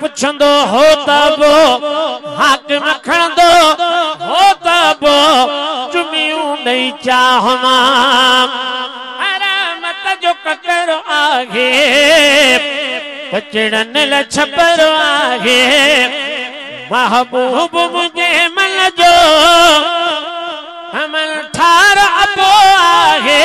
پڇندو هو ته به حاڪم کڻندو هو ته به چميون ڏئي چاهمان. حرامت جو ڪڪر آهي، ڪچڙن لاء ڇپر آهي، محبوب منهنجي من جو امن ٺار ابو آهي.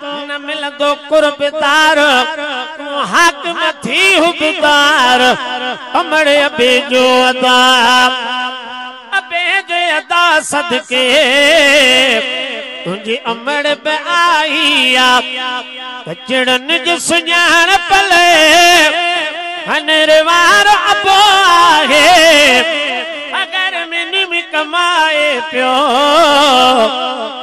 نه ملندو قرب دار، تون حاڪم ٿي حقدار، امڙ ابي جو ادا، ابي جي ادا صدقي، تنهنجي امڙ به آئي آ، ٻچڙن جي سڃاڻپ لئي، هنر وارو ابو آهي، اگر مني ۾ ڪمائي پيو.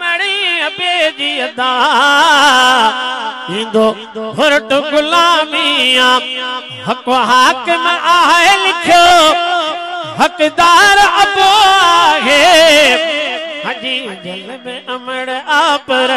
مڙي ابي جي ادا ايندو ڦرٽ غلامي آ حق حاڪم آهي لکيو حقدار ابو آهي هجي جل ۾ امڙ آ پر